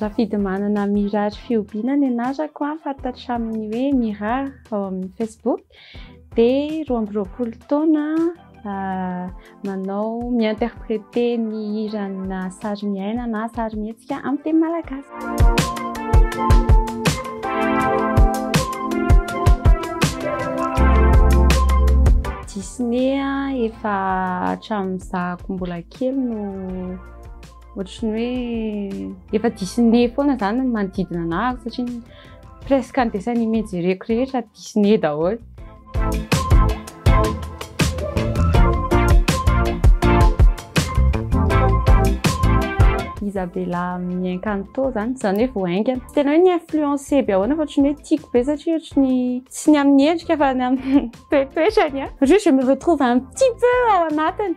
Rafidimanana Mirary Fihobiana ny anarako, fantatra amin'ny hoe Mira ao amin'ny Facebook. Dia roa amby roapolo taona, manao mi-interpréter ny hiranà sarimiaina na sarimihetsika amin'ny teny malagasy. Disney efa hatramin'ny zahako mbola kely no. ohatry ny hoe efa Disney foana zany ny manodidina anah satria ny presque ny dessin animé jereko rehetra Disney daholo. Isabella amin'ny Encanto zany, zany hoe vao haingana. Tena hoe ny influencé be ahoana fa ohatry ny hoe tiako be satria ohatry ny tsy ny amin'ny endrika fa ny amin'ny toetoetrany. Satria je me retrouve un petit peu ao anatiny.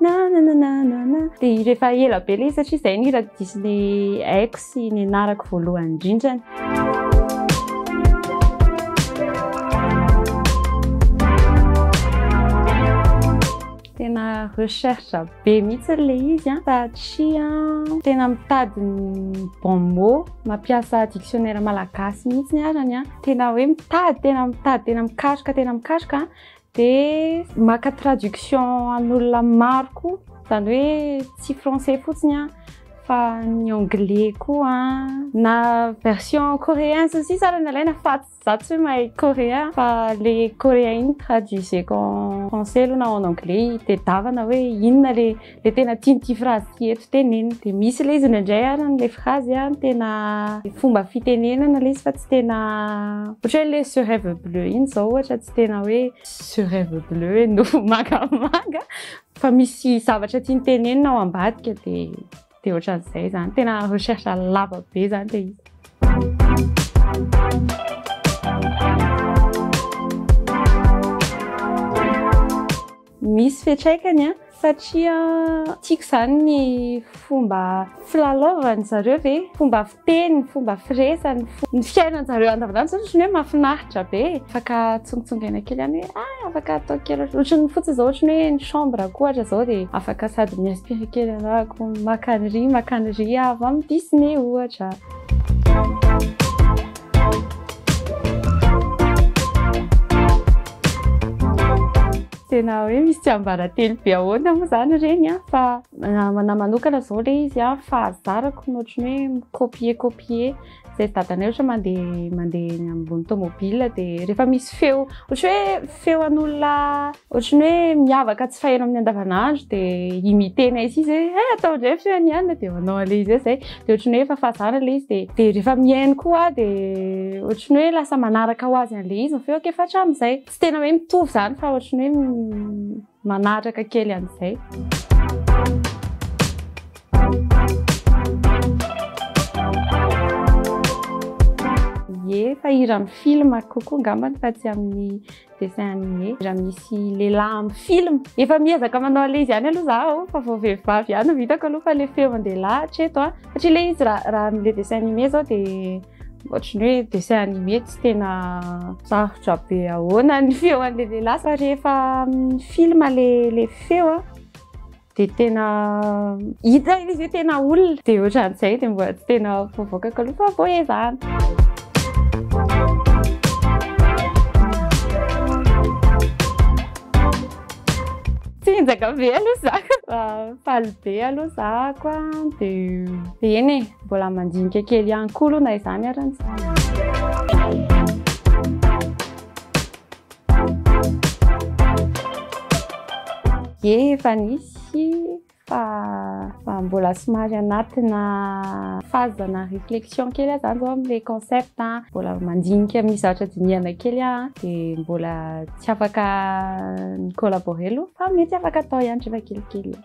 na na na na na na dia rehefa ela be ilay satria izay ny hira diso ny aiko sy ny narako voalohany indrindrany tena recherche be mihitsy ilay izy an satria tena mitady ny bon mot mampiasa dictionnaire malagasy mihitsy ny arany an tena hoe mitady tena mitady tena mikaroka tena mikaroka Dia maka traduction an'olona maro koa, izany hoe tsy français fotsiny fa ny anglais koa na version coréen sy ny sisa ary no alaina fa za tsy mahay coréen fa le coréen iny traduiseko en français aloha na en anglais hitedavana hoe inona le dia tena tiany ity phrase ity eto tenenina dia misy ilay izy indraindray ary ilay phrase a tena fomba fitenenana ilay izy fa tsy tena ohatra hoe ilay sur rêve bleu iny izao ohatra tsy tena hoe sur rêve bleu hoe nofo mangamanga fa misy zavatra tiany tenenina ao ambadika dia dia ohatran'izay izany tena recherche lava be izany dia izy Misy fiatraikany an, satria tiako izany ny fomba filalaovany zareo ve, fomba fiteny, fomba firesany, ny fiainan zareo andavanandro izany ohatran'ny hoe mafinaritra be e, afaka atsongotsongaina kely any hoe ah afaka atao kely ohatran'ny fotsiny izao ohatran'ny hoe ny chambre ko ohatra izao dia afaka sady mi inspirer kely anah ko maka an'iry maka an'iry aho avy amin'ny Disney ohatra. Tena hoe misy tsiambaratelo be ahoana moa izany ireny an, fa namana manokana izao ilay izy an, fa zarako ny ohatry ny hoe mi-copier copier izay dadanay ohatra mandeha mandeha eny ambony tomobile dia rehefa misy feo ohatry hoe Feo an'olona ohatry ny hoe miavaka tsy faheno amin'ny andavanandro dia imiter-nay sisa hoe eh atao indray ny feon'i Anna dia manao an'ilay izy hoe izay. Dia ohatry ny hoe efa fazana ilay izy dia dia rehefa mihaino koa aho dia ohatry ny hoe lasa manaraka ho azy an'ilay izy ny feoko efa hatramin'izay. Tsy tena hoe mitovy izany fa ohatry ny hoe Manatraka kely an'izay. Ye, fa hira amin'ny film kokoa angambany fa tsy amin'ny dessin animé. Hira misy lehilahy amin'ny film. Efa miezaka manao an'ilay izy ihany aloha zaho fa vao vehivavy ihany no hitako aloha fa ilay feon-dehilahy hatreto an. Satria ilay izy raha raha amin'ilay dessin animé izao dia. Ohatry ny hoe dessin animé tsy tena sarotra be ahoana ny feo an'ilay lehilahy fa rehefa amin'ny film ilay feo a dia tena hita ilay izy hoe tena olona dia ohatran'izay dia mbola tsy tena voavoakako aloha fa vao ezahana. Tsy injaka be aloha za. Faly be aloha za koa dia eny e. Mbola mandinika kely ihany koa aloha na izany ary ny Ie efa nisy fa fa mbola somary anatina phase ana réflexion kely aho zany zao amin'ilay concept a, mbola mandinika amin'ny zavatra dinihana kely aho a, de mbola tsy afaka mi-collaborer aloha fa mety afaka atao ihany rehefa kelikely.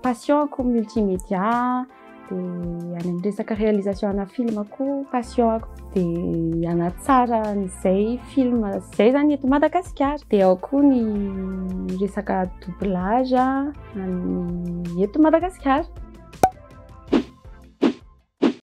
Passion-ko multimédia, dia any amin'ny resaka réalisation ana film koa passion-ko. Dia hanatsara an'izay film izay zany eto Madagasikara. Dia ao koa ny resaka doublage an'ny eto Madagasikara.